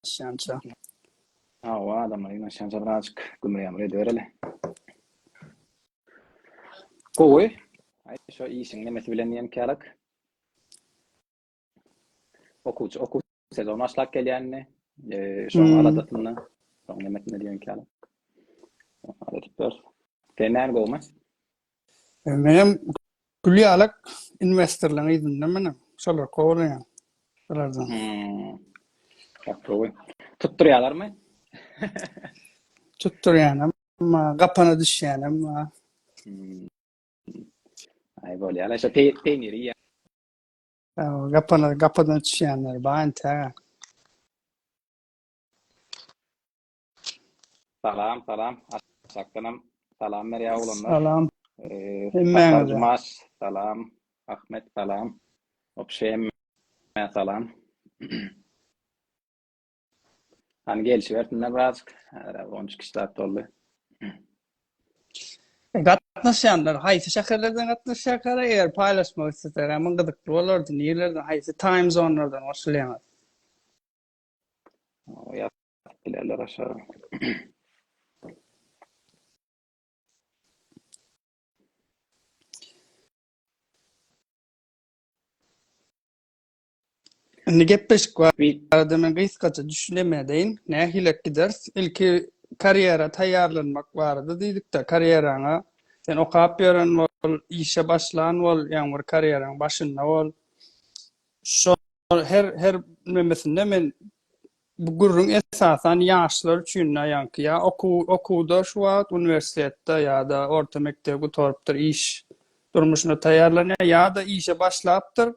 Ýaşaýança. Hawa, adamlar ýaşaýança birazjyk gümle-ýamle edibereli. Gowy. Aý, şo işiň nemesi bilen diýenkälik. Okuwçy, okuw sezony başlap gelýär indi. Şoň aladasynda, şoň nemesinde diýenkälik. Sen näme gowumy? Menem gül ýalak inwestorlaryň yzynda menem. Şolar kowalaýan. Şolardan. Gaty gowy. Tutdurýalarmy? Tutdurýanam, gapana düşýänem bar. Aý bolýar-la, şo peýniri iýýän. Gapana, gapadan düşýänler bar entägä. Salam salam aşakdanam salam berýär oglanlar. Salam. Hemmäňize. Salam. Ahmet salam. Obşe hemmä salam. Hani gelişi versinler birazcık. Ara 13 kişi saat doldu. Gatnaşýanlar haýsy şäherlerden gatnaşýarkara eger paýlaşmak isleseler, men gyzykly bolardy. Nirelerden, haýsy time zonelardan goşulýaňyz? Bilerler aşa. Indi gepleşik var. Arada men gysgaça düşünemedeýin. Nähilek gideris? Ilki karýera taýýarlanmak barada diýdik-de, karýeraňa sen okap ýören bol, işe başlan bol, ýaňy bir karýeraň başynda bol. Şo her her nemesinde men bu gürrüň esasan ýaşlar üçin aýanky ýa okuw okuwda şu wagt uniwersitetde ýa-da orta mekdebi gutarypdyr iş durmuşyna taýýarlanýar ýa-da işe başlapdyr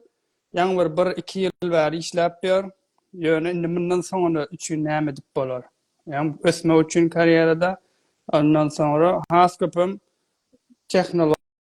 ýaňy bir bir iki ýyl bäri işläp ýör ýöne indi mundan soňuna üçin näme edip bolar ýaňy ösmek üçin karýerada ondan soňra has köpem tehnologiýa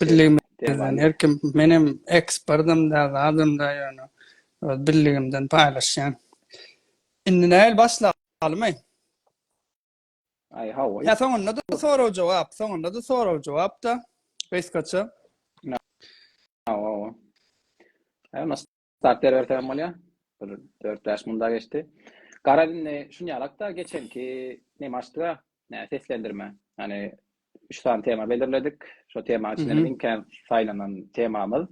Birligimizden her kim menem eksperdim da zadym da ýöne öz birligimden paýlaşýan. Indi näl başlamaly? Aý hawa. Ýa soňunda da sorag jogap, soňunda da sorag jogap da gysgaça. Hawa. Hawa. Zat berbersemem bolýa. Bir dört bäş munda geçdi. Garaz indi şuny alakda geçenki nemi açdyga, nä seslendirme. Ýani üç sany tema belirledik. Şo tema içinde biziň kän saýlanan temamyz.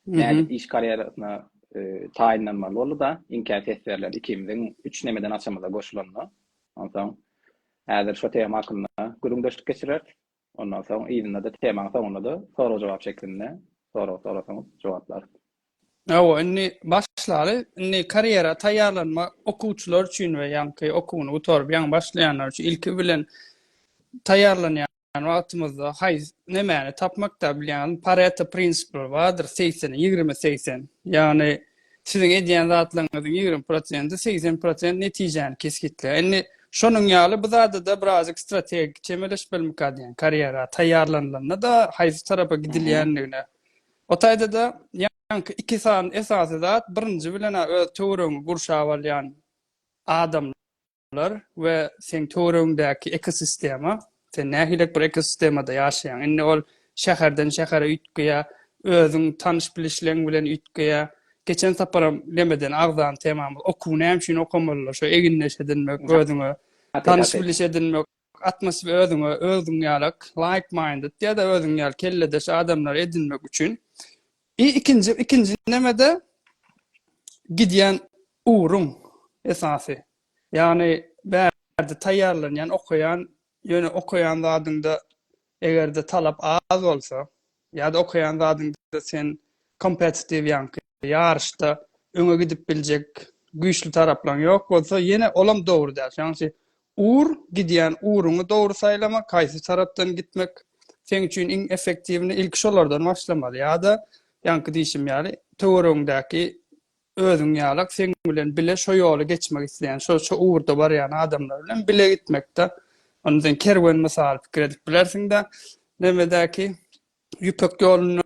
Nädip iş karýerasyna taýynlanmaly boldy-da, iň kän ses berlen ikimiziň üç nemeden açamyza goşulanda. Onsoň häzir şo tema hakynda gürrüňdeşlik geçireris. Ondan soň yzynda-da temaň soňunda-da sorag-jogap şeklinde sorag sorasaňyz jogaplaryz. Hawa, indi başlaly. Indi karýera taýýarlanma okuwçylar üçin we ýaňky okuwyny gutaryp ýaňy başlaýanlar üçin ilki bilen taýýarlanýan wagtymyzda haýs nemäni tapmakda bilýäňizmi? Pareto prinsipleri bardyr, segsen, ýigrimi, segsen. Ýagny Siziň edýän zatlaryňyzyň ýigrimi prosenti, segsen prosent netijäni kesgitleýär. Indi şonuň ýaly bu zada-da birazajyk strategik çemeleşmelmika diýýän, karýera taýýarlanylanda-da haýsy tarapa gidilýändigine. O taýda-da ýaňky iki sany esasy zat, birinji bilen-ä öz töweregiňi gurşap alýan adamlar, lar we seň töweregiňdäki ekosistema, sen nähilek bir ekosistemada ýaşaýaň. Indi ol şäherden şähere üýtgeýär, özüň tanyş-bilişleň bilen üýtgeýär. Geçen saparam lemeden agzan temamyz okuw näme üçin okamalylar, şo egindeş edinmek, özüňe tanyş-biliş edinmek. Atmosfer özüňe özüň ýalak like-minded ýa-da özüň ýaly kelledeş adamlary edinmek üçin i ikinji ikinji nemede gidýän ugruň esasy. Ýagny bärde taýýarlanýan, okaýan, ýöne okaýan zadyňda eger-de talap az bolsa, Ýa-da okaýan zadyňda sen kompetitiw ýaňky ýaryşda öňe gidip biljek güýçli taraplaň ýok bolsa, ýene olam dogry däl. Şonuň üçin ur, gidýän uruňy dogry saýlamak, haýsy tarapdan gitmek seň üçin iň effektiwini, ilki şolardan başlamaly. Ýa-da ýaňky diýşim ýaly, töweregiňdäki Özüň ýalak seň bilen bile şo ýoly geçmek isleýän, şo şo ugurda barýan adamlar bilen bile gitmekde. Onda sen kerwen mysaly pikir edip bilersiň-de, nebedäki Ýüpek ýoluna,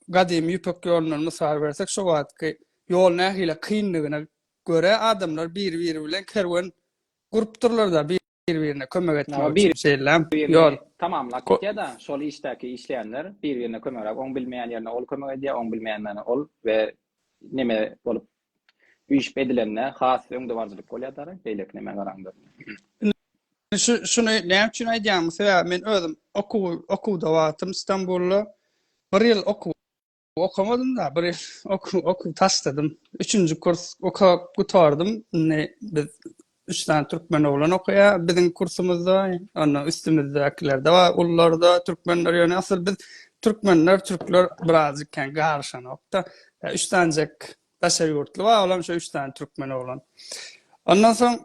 gadymy Ýüpek ýolundan mysal bersek, şo wagtky ýol nähili kyndygyna görä adamlar biri-biri bilen kerwen gurupdyrlar-da, bir-birine kömek etmek üçin şeýle ýol. Tamamlap gitýär-de, şol işdäki işleýänler bir-birine kömegräk, oň bilmeýän ýerine ol kömek edýär, oň bilmeýän ýerine ol we neme bolup üýşüp edilende has öňdebaryjylyk bolýar däl-ä, beýleki nemä garanda. Indi şuny näme üçin aýdýaryn, sebäbi men özüm okuwda wagtym Stambulda bir ýyl okuw Okamadym-da, bir okuw, okuw taşladym. Üçünji kurs okap gutardym. Indi biz üç tane türkmen oglan okuýa. Biziň kursumyzda, onda üstümizdekiler de bar, ullar da türkmenler ýöne asyl biz türkmenler, türkler birazjyk kän garşanokda. Üç tanejek daşary ýurtly bar, olam şu üç tane türkmen oglan. Ondan soň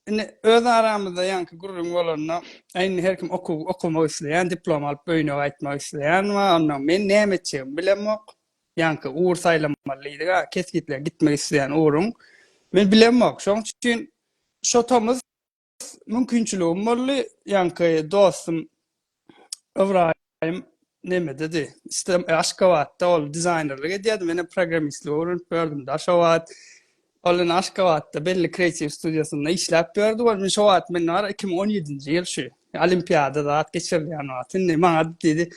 Indi öz aramyzda ýaňky gürrüň bolanda, Äý, indi her kim okuw okamak isleýän, diplom alyp öýüne gaýtmak isleýän bar, onnoň men näme etjegimi bilemok. Ýaňky ugur saýlamaly diýdik-ä, kesgitläp gitmek isleýän ugruň. Men bilemok. Şoň üçin şo tomus mümkinçiligim boldy, ýaňky dostum Ybraýym Nemededi. Islam Aşgabatda ol dizaýnerlik edýärdi. Meni programmistlik öwrenip ýördüm da şo wagt. Ol indi Aşgabatda belli kreatiw studiýasynda işläp ýördi. Ol şo wagt men bar 2017-nji ýyl şu olimpiada zat geçirilýän wagt. Indi maňa diýdi.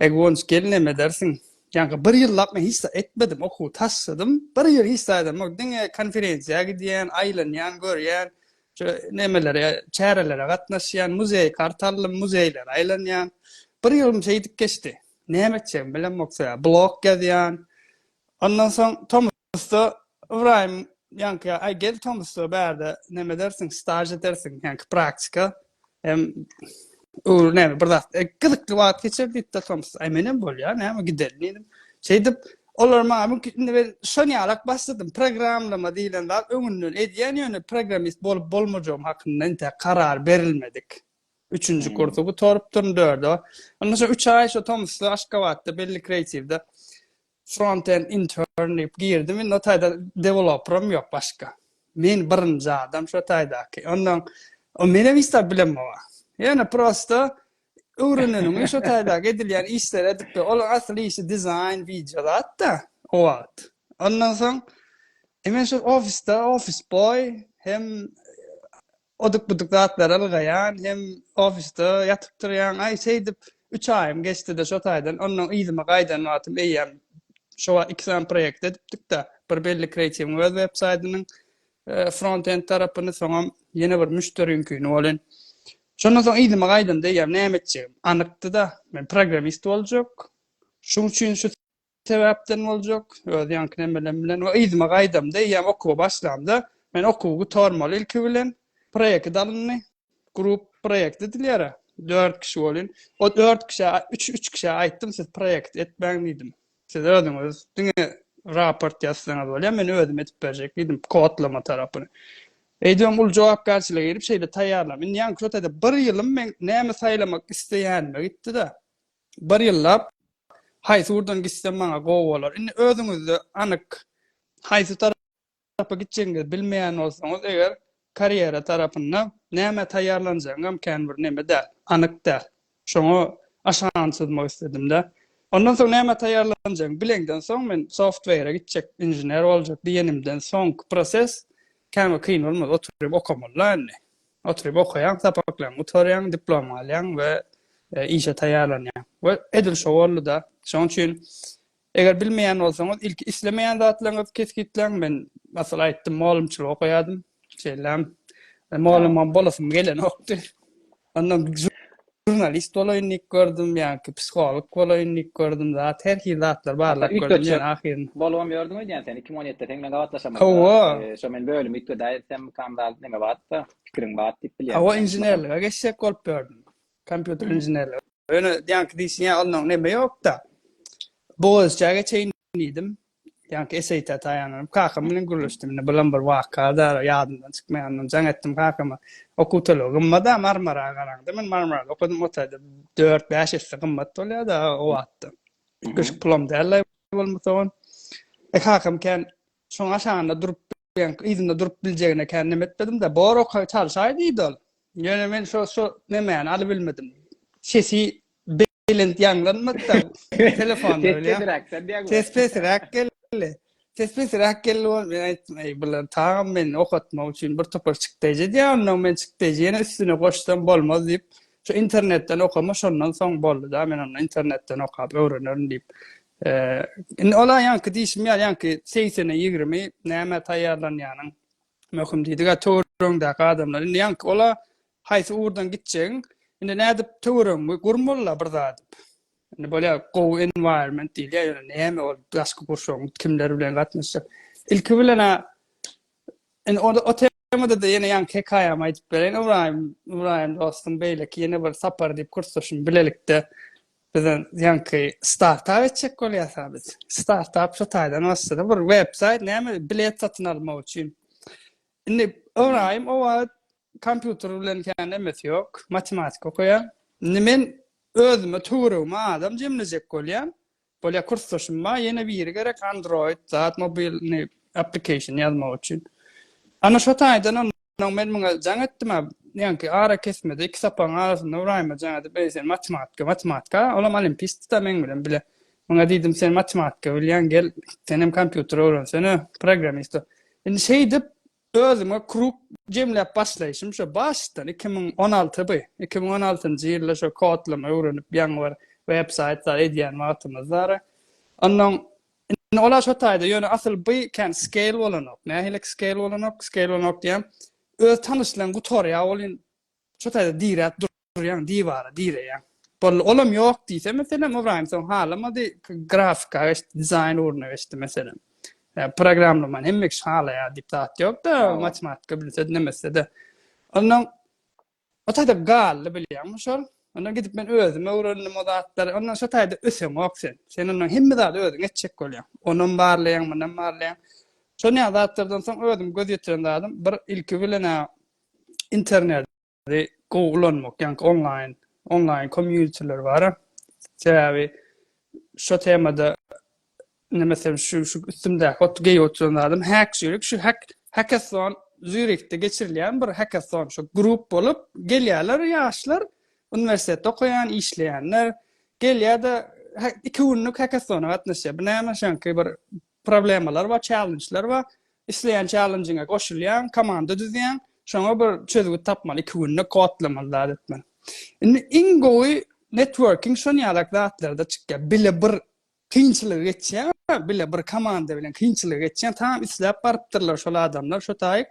Ey Guwanç gel neme edersiň. Ýaňky bir ýyllap men hiç zat etmedim. Okuwy taşladym. Bir ýyl hiç zat edemok. Diňe konferensiýa gidýän, aýlanýan, görýän. Şu nemelere, çärelere gatnaşýan, muzeý kart aldym, muzeýlere aýlanýan. Bir ýylym şeýdip geçdi. Näme etjegimi bilemok soýa. Blog ýazýan. Ondan soň tomusda Ybraýym ýanka, aý gel tomusda bärde näme edersiň, staž edersiň, ýanka praktika. Hem öwür näme bir zat. E, gyzykly wagt geçer diýip de tomus. Aý menem bolýar, näme gideli diýdim. Şeýdip Olar maňa bu indi ben şon ýalak başladym. Programlama diýlen zat öňünden edýän ýöne programmist bolup bolmajagym hakynda entek karar berilmedik. Üçünji hmm. kursu gutarypdyryn dörde. Onda şo 3 aý şo Tomsda Aşgabatda belli kreatiwde frontend intern diýip girdim. Indi o taýda deweloperim ýok başga. Men birinji adam şo taýdaky. Ondan o menem isläp bilemok. Ýöne prosta öwreneniňi şo taýdaky edilýän işleri edip ber. Olaryň asyl işi dizaýn, wideo zat-da o wagt. Ondan soň e men şol ofisde ofis boý hem oduk buduk zatlar ylgaýan hem ofisde ýatyp turýan aý şeýdip 3 aýym geçdi de şo taýdan ondan yzyma gaýdan wagtym eýýäm şo wagt iki sany proýekt edipdik-de bir belli kreatiwiň öz web saýdynyň front-end tarapyny, soňam ýene bir müşderiňkini welin, şondan soň yzyma gaýdamda eýýäm näme etjegim anykdy-da, men programmist boljak, şuň üçin şu sebäpden boljak, öz ýaňky nemelem bilen we yzyma gaýdamda eýýäm okuwa başlamda, men okuwy gutarmaly ilki bilen, proýekt alyndy. Grup proýekt edilýär. Dört kişi bolýan. O dört kişä, üç, üç kişä aýtdym, siz proýekt etmäň diýdim. Siz özüňiz diňe raport ýazsaňyz bolýar, men özüm edip berjek diýdim, kodlama tarapyny. Eýdýän ul jogapkärçilige girip şeýle taýýarlam. Indi anketada bir ýylym men näme saýlamak isleýänime gitdi-de. Bir ýyllap haýsy ugurdan gitsem maňa gowy bolar. Indi özüňizde anyk haýsy Haçapa gitjegiňizi bilmeýän bolsaňyz eger karýera tarapynda nämä taýýarlanjagyňam kän bir neme däl, anyk däl. Şoňa aşany çyzmak isledim-dä. Ondan soň nämä taýýarlanjagyňy bileňden soň men software-e gitjek, inžener boljak diýenimden soňky proses kän bir kyn bolmaz. Oturyp okamaly-da indi. Oturyp okaýaň, sapaklaryňy gutarýaň, diplom alýaň we işe taýýarlanýaň. We edil şo boldy-da. Şonuň üçin Eger bilmeýän bolsaňyz, ilki islemeýän zatlaryňyzy kesgitläň. Men, masalan, aýtdym, mugallymçylyk okaýardym. Şeýlem, e, mugallymam bolasym gelenokdy. Ondan žurnalist bolaýyn diýip gördüm, ýa-ki psiholog bolaýyn diýip gördüm, zat her hili zatlar barlap gördüm, ýöne ahyryn. Bolubam ýördüň öýdýän sen, 2017-de seň bilen gabatlaşamyzda. Hawa. E, şo men bölümi üýtgedäýsem, kandalyp neme batda, pikiriň bat diýip bilýän. Hawa, inženerlige geçjek bolup ýördüm. Kompýuter inženerligi. Ýöne ýaňky diýsin ýa onnoň neme ýokda. Bogaziçä geçeýin diýdim. Ýaňky eseýta taýanlanyp kakam bilen gürleşdim. Indi bulam bir waka da ýadymdan çykmaýandan jaň etdim kakama. Okuw tölegi gymmat-a Marmara garaňda. Men Marmarada okadym o taýda dört, bäş esse gymmat bolýa-da o wagtda. Köşk pulam däl-le bolmasa on. E kakam kän Şoň aşagynda durup bilen yzynda durup biljegine kän neme etmedim-de, bor oka çalşaý diýdi ol. Ýöne men şo şo nemäni alybilmedim. Sesi belent ýaňlanmady-da telefonda Ses bilýän. pesiräkden diýýäň. Ses pesiräk geldi. Ses pesiräk geldi bol. Men aýtdym, eý bular tagam meni okatmak üçin bir topar çykdaýjy edýär, ondan men çykdaýjy ýene üstüne goşsam bolmaz diýip, şu internetden okama şondan soň boldy-da, men onda internetden okap öwrenerin diýip, Indi ola ýaňky diýşim ýaly ýaňky segsene ýigrimi nämä taýýarlanýanyň möhüm diýdik-ä töweregiňdäki adamlar. Indi ýaňky ola haýsy ugurdan gitjegiň indi nädip töweregiňi gur molla bir zat. Indi bolýar gowy environment diýilýär ýöne näme ol daşky gurşawyň kimler bilen gatnaşjak. Ilki bilen-ä Indi onda o temada-da ýene ýaňky hekaýamy aýdyp bereýin. Ybraýym, Ybraýym dostum beýleki ýene bir sapar diýip kursdaşym bilelikde biziň ýaňky startap etjek bolýas a biz. Startap şu taýdan başlady. Bir websaýt näme bilet satyn almak üçin. Indi Ybraýym o wagt kompýuter bilen kän emesi ýok, matematika okaýar. Indi men özüme töweregime adam jemlejek bolýan. Bolýa kursdaşymma ýene biri gerek android zat mobilny application ýazmak üçin. Ana şo taýdanam Ondan men muňa jaň etdim-ä, ýaňky arakesmede iki sapagyň arasynda Ybraýyma jaň edip, Eý, sen matematika, matematika, olam olimpisti-da meň bilen bile. Muňa diýdim, sen matematika bilýäň, gel, senem kompýuter öwrensene, programmist bol. Indi şeýdip, Özüme krug jemläp başlaýşym şo başdan iki müň on alty by, iki müň on altynjy ýylda şo kodlama öwrenip ýaňy bir web saýt zat edýän wagtymyz dara. Onnoň indi ola şo taýda ýöne asyl by kän scale bolanok. Nähilek scale bolanok, scale bolanok diýýän öz tanyşlaň gutarýa welin şo taýda diräp durýaň, diwara direýäň. Boldy, olam ýok diýse, meselem, Ybraýym soň halamady, grafika geçdi, dizaýn ugruna geçdi, meselem. Programlamany hemme kişi halaýar diýip zat ýok-da, matematika bilse-de, nemese-de. Ondan o taýda galdy, bilýäňmi, şol. Ondan gidip men özüm öwrendim o zatlary. Ondan şo taýda öseňok sen. Sen ondan hemme zady özüň etjek bolýaň. Onam barlaýaň, munam barlaýaň. Şonýa zatlardan soň özüm göz ýetiren zadym bir ilki bilen interneti gowy ulanmak, ýaňky onlaýn, onlaýn kommýunitiler bar. Sebäbi şo temada neme sen şu üstümdäki ot geý oturan adam hack şeýle şu hack hackathon Zürihde geçirilýän bir hackathon şu grup bolup gelýärler ýaşlar uniwersitetde okaýan işleýänler gelýärde iki günlük hackathona gatnaşýar. Bu näme şanky bir problemalar bar, challenge'lar bar. Isleýän çällenjiňe goşulýaň, komanda düzýäň, şoňa bir çözgüt tapmaly, iki günde kodlamaly, zat etmeli. Indi iň gowy networking şon ýalak zatlarda çykýar. Bile bir kynçylygy geçýär, bile bir komanda bilen kynçylygy geçýär, tamam isläp barypdyrlar şol adamlar, şo taýyk.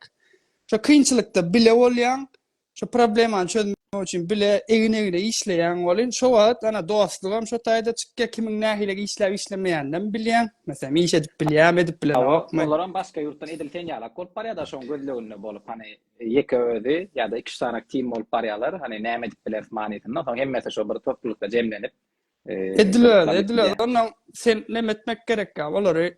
Şo kynçylykda bile bolýaň, Şu problemany çözmek üçin bile egin-egne işleýäň welin, şo wagt ana dostlugam şo taýda çykýar, kimiň nähili işläp işlemeýäninem bilýäň. Meselem, iş edip bilýärmi, edip bilenokmy. Hawa, olaram başga ýurtdan edil sen ýalak bolup barýar-da, şoň gözleginde bolup, hany, ýeke özi ýa-da iki-üç sany team bolup barýarlar, hany, näme edip bileris manysynda, soň hemmesi şo bir toplulykda jemlenip, Edil özi, edil özi, onnoň sen neme etmek gerek ýa, olary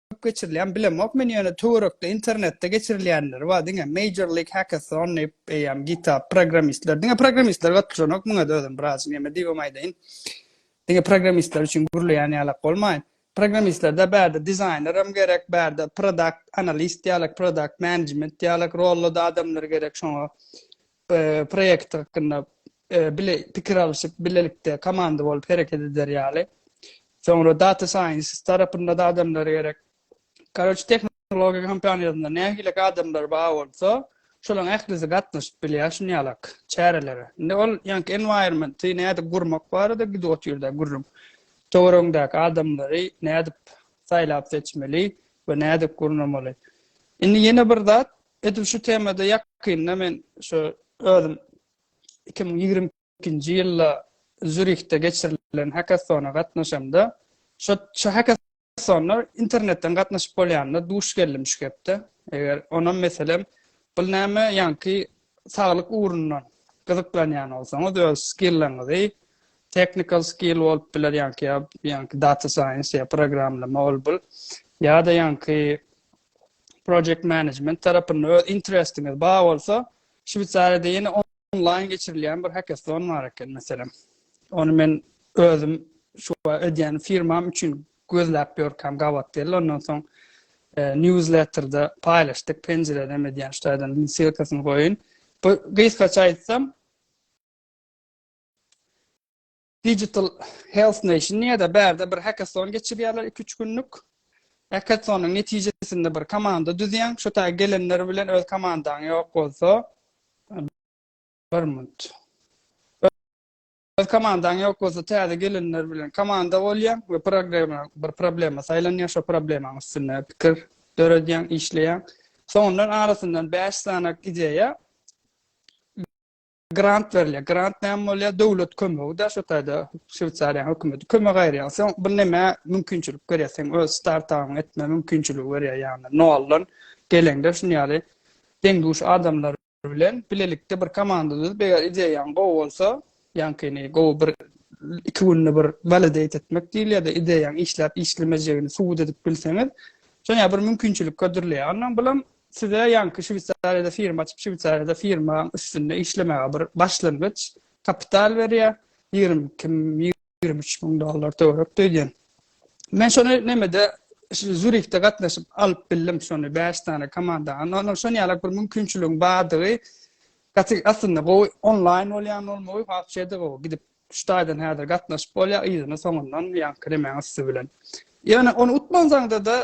köp geçirilýän bilemok men ýöne töwerekde internetde geçirilýänleri bar diňe major league hackathon diýip eýýäm github programmistler diňe programmistler gatnaşanok muňa da özüm biraz näme diýibem aýdaýyn diňe programmistler üçin gürleýän ýalak bolmaýyn programmistlerde bärde dizaýner hem gerek bärde produkt analist ýalak produkt management ýalak rollada adamlar gerek şoňa proýekt hakynda bile pikir alşyp, bilelikde komanda bolup hereket eder ýaly. Soňra data scientist tarapynda-da adamlar gerek. Karoç tehnologiýa kompaniýasynda nähilek adamlar bar bolsa, şolaň ählisi gatnaşyp bilýär şunýalak çärelere. Indi ol ýaňky environment-i nädip gurmak barada gidip otyrda gürrüň. Töweregiňdäki adamlary nädip saýlap seçmeli we nädip gurnamaly. Indi ýene bir zat, Edil şu temada ýakynda men şu özüm iki müň ýigrimi ikinji ýylda Zürihde geçirilen hackathona gatnaşamda, şo şu hackathona internetden gatnaşyp bolýanda duş geldim şu gepde. Eger onam meselem, bul näme ýaňky saglyk ugrundan gyzyklanýan bolsaňyz, öz skilleriňizi, technical skill bolup biler ýaňky ýa ýaňky data science ýa programlama ol bul ýa-da ýaňky Project Management tarapynda öz interestiňiz bar bolsa, Şweýsariýada ýene onlaýn geçirilýän bir hackathon bar eken meselem. Ony men özüm şu edýän firmam üçin gözläp ýörkäm gabat geldi. Ondan soň e, newsletterde paýlaşdyk, penjireden edýän şu taýdan ssylkasyny goýun. Bu gysgaça aýtsam, Digital Health Nation diýýär-de, bärde bir hackathon geçirýärler iki-üç günlük. Hackathonyň netijesinde bir komanda düzýäň. Şu taýy gelenler bilen öz komandaň ýok bolsa, bir minut. Öz komandaň ýok bolsa, täze gelenler bilen komanda bolýaň we programma, bir problema saýlanýar, şo problemanyň üstünde pikir döredýäň, işleýäň. Soňundan arasyndan bäş sany ideýa grant berilýär. Grant näme bolýar? Döwlet kömegi-de şu taýda Şweýsariýanyň hökümeti kömek aýyrýar. Sen bir näme mümkinçilik berýär, sen öz startabyňy etme mümkinçiligi berýär, ýagny noldan geleňde şuny ýaly deň-duş adamlar bilen bilelikde bir komanda düzüp, eger ideýaň gowy bolsa, ýaňkyny gowy bir iki günde bir validate etmek diýilýär-de, ideýaň işläp-işlemejegini subut edip bilseňiz, şoňa bir mümkinçilik hödürleýär. Ondan bulam Size ýaňky Şweýsariýada firma açyp, Şweýsariýada firmaň üstünde işlemäge bir başlangyç kapital berýär, ýigrimi iki, ýigrimi üç müň dollar töwerek öýdýän. Men şony nämede şu Zürihde gatnaşyp alyp bildim şony bäş sany komanda. Ondan şon ýalak bir mümkinçiligiň bardygy gaty aslynda gowy onlaýn bolýan bolmagy wapşe-de gowy gidip Üç taýdan häzir gatnaşyp bolýar, yzyny soňundan ýaňky nemäň üsti bilen. Ýöne ony utmansaňda-da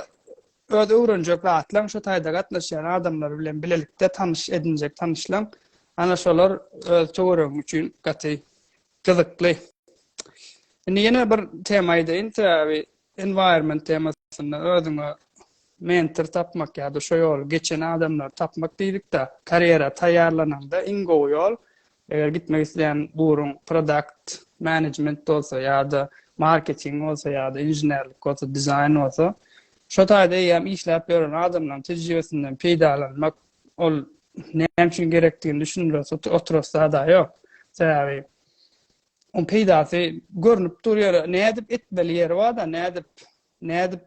öz öwrenjek zatlaň şu taýda gatnaşýan adamlar bilen bilelikde tanyş edinjek tanyşlaň ana şolar öz töweregiň üçin gaty gyzykly. Indi ýene bir tema aýdaýyn, sebäbi environment temasynda özüňe mentor tapmak ýa-da şo ýoly geçen adamlary tapmak diýdik-de, karýera taýýarlananda iň gowy ýol Eger gitmek isleýän ugruň produkt management bolsa ýa-da marketing bolsa ýa-da inženerlik bolsa, dizaýn bolsa, şo taýda eýýäm işläp ýören adamlaryň tejribesinden peýdalanmak ol näme üçin gerekdigini düşündirip oturasy zada ýok. Sebäbi oň peýdasy görnüp dur ýöre nädip etmeli ýeri bar-da, nädip nädip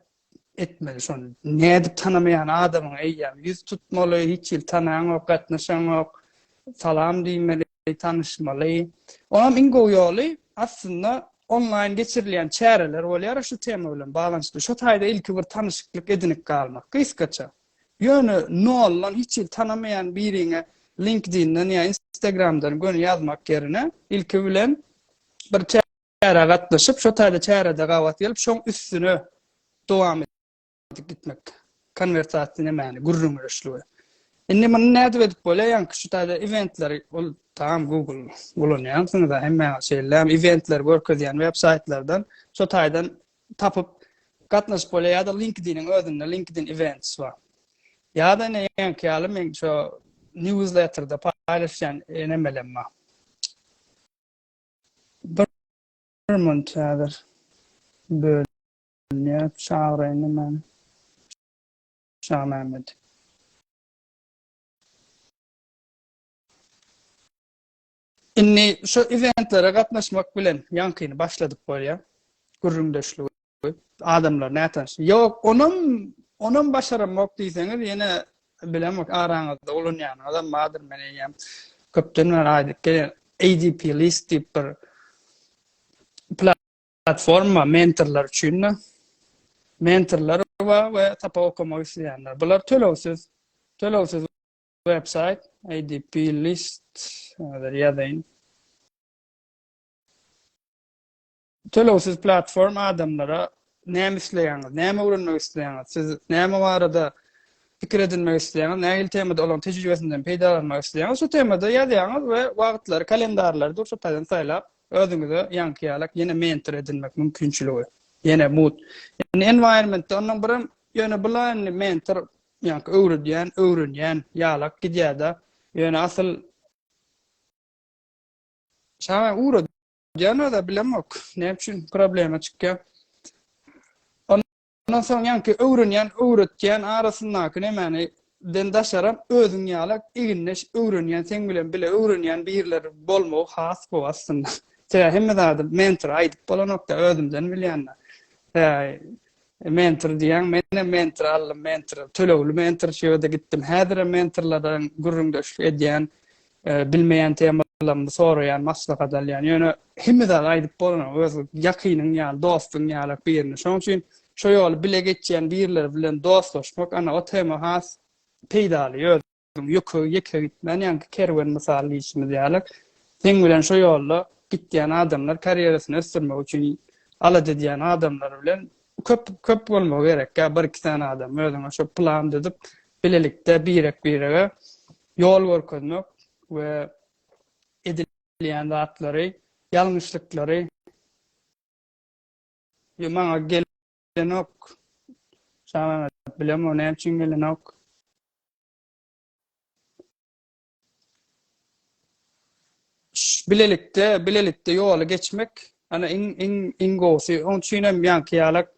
etmeli şony. Nädip tanamaýan adamyňa eýýäm ýüz tutmaly, hiç hili tanaňok, gatnaşaňok, salam diýmeli, tanyşmaly. Onam iň gowy ýoly aslynda onlaýn geçirilýän çäreler bolýar şu tema bilen baglanyşykly. Şo taýda ilki bir tanyşyklyk edinip galmak, gysgaça. Ýöne noldan hiç hili tanamaýan biriňe LinkedIn-den ýa Instagram-dan göni ýazmak ýerine ilki bilen bir Çärä gatnaşyp, şo taýda çärede gabat gelip, şoň üstüne dowam edip gitmek. Konwersasiýa nämäni, gürrüň öreşligi. Indi muny nädip edip bolýar? Ýaňky şu taýda eventleri, ol tam Google ulanýansyňyz, hemme şeýle eventleri görkezýän web saýtlardan şo taýdan tapyp gatnaşyp bolýar ýa-da LinkedIn-iň özünde LinkedIn Events bar. Ýa-da ine ýaňky ýaly men şu newsletter-de paýlaşýan e, nemelem bar. Birman çadyr bölünýär, çagyraýynmy men Şamämmedi? Indi şu eventlere gatnaşmak bilen ýaňkyny başladyp bolýar, gürrüňdeşligi. Adamlar nätanyş. Ýok, onam, onam başaramok diýseňiz, ýene bilemok araňyzda ulanýanyňyzam bardyr, men eýýäm köpden bäri aýdyp gelýän ADP list diýip bir platforma mentorlar üçin de mentorlar we we tapa okamak isleýänler. Bular tölegsiz, tölegsiz websayt ADP list ýazyň. Tölegsiz platform adamlara näme isleýäňiz, näme öwrenmek isleýäňiz, siz näme barada pikir edinmek isleýäňiz, nähili temada olaryň tejribesinden peýdalanmak isleýäňiz, şu temada ýazýaňyz we wagtlary, kalendarlary dur şu taýdan saýlap, özüňize ýaňky ýalak ýene mentor edinmek mümkinçiligi, ýene mut. Ýani environmentde ondan birem ýöne bula indi mentor ýaňky öwredýän, öwrenýän ýalak gidýär-de, ýöne asyl şaňa ugra Ýanada bilemok. Näme üçin problema çykýar? Ondan soň ýanki öwrenýän, öwretýän arasyndaky nämäni den daşaram özüň ýaly igindeş öwrenýän, seň bilen bile öwrenýän birler bolmagy has gowy aslynda. Sebäbi hemme zady mentor aýdyp bolanokda, özümden bilýände. Mentor diýen, menem mentor aldym, mentor, tölegli mentor şu ýerde gitdim. Häzirem mentorlardan gürrüňdeşlik edýän. bilmeýän temalarymyzy soraýan, maslahat alýan. Ýöne hemme zady aýdyp bolanok, öz ýakynyň ýaly, dostuň ýalak birini. Şonuň üçin şo ýoly bile geçýän birileri bilen dostlaşmak, ana, o tema has peýdaly. Özüň ýöke, ýeke gitmän, ýaňky kerwen mysaly diýşimiz ýalak, seň bilen şo ýolda gidýän adamlar, karýerasyny ösdürmek üçin alada edýän adamlar bilen köp, köp bolmagy gerek, ýa bir-iki sany adam özüňe şo plan düzüp, bilelikde birek-birege ýol görkezmek we edilýän zatlary, ýalňyşlyklary ýa maňa gelenok, Şamämmet bilemok näme üçin gelenok. Bilelikde, bilelikde ýoly geçmek, ana iň iň iň gowusy. Oň üçin hem ýaňky ýalak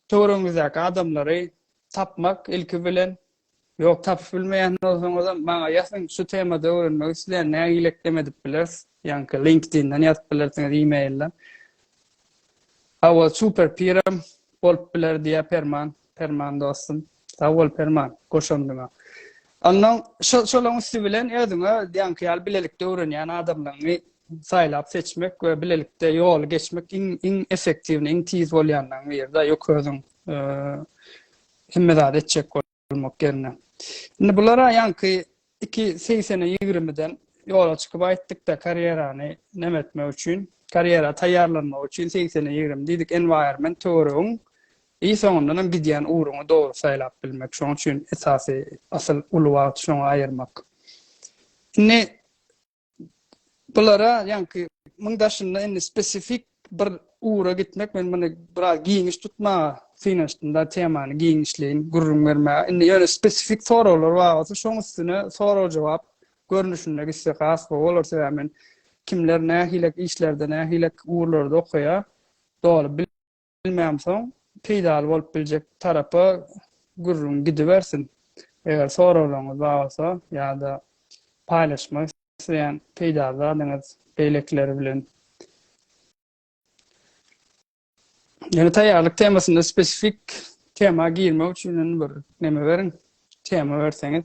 Töweregiňizdäki adamlary tapmak, ilki bilen, ýok, tapyp bilmeýän bolsaňyzam, maňa ýazyň, şu temada öwrenmek isleýän, nägile ekdem edip bileris, ýaňky LinkedIn-den ýazyp bilersiňiz, e-mail-den. Hawa, super piram bolup biler, diýýär Perman. Perman dostum. Sag bol, Perman, goşandyňa. Onnoň, şo, şolaryň üsti bilen özüňe ýaňky ýaly bilelikde öwrenýän adamlaryňy saýlap seçmek we bilelikde ýoly geçmek iň iň effektiwni iň tiz bolýanlaryň biri-de ýok özüň hemme zady etjek bolmak ýerine. Indi bulara ýaňky iki segsene ýigrimiden ýola çykyp aýtdykda karýerany näme etmek üçin karýera taýýarlanmak üçin segsene ýigrimi diýdik enwaýrment töweregiň i soňundanam gidýän ugruňy dogry saýlap bilmek şoň üçin esasy asyl uly wagty şoňa aýyrmak. Indi Bulara ýaňky muň daşynda indi spesifik bir ura gitmek men muny biraz giňiş tutmaga synanyşdym da temany giňişleýin gürrüň bermäge. Indi ýöne spesifik soraglar bar bolsa şoň üstüne sorag jogap görnüşinde gitse has gowy bolar sebäbi men kimler nähilek işlerde nähilek ugurlarda okaýar doly Bilmänsoň, peýdaly bolup biljek tarapa gürrüň gidibersin. Eger soraglaryňyz bar bolsa ýa-da paýlaşmak isleýän peýdaly zadyňyz beýlekiler bilen. Ýöne taýýarlyk temasynda spesifik tema girmek üçin indi bir neme beriň, tema berseňiz.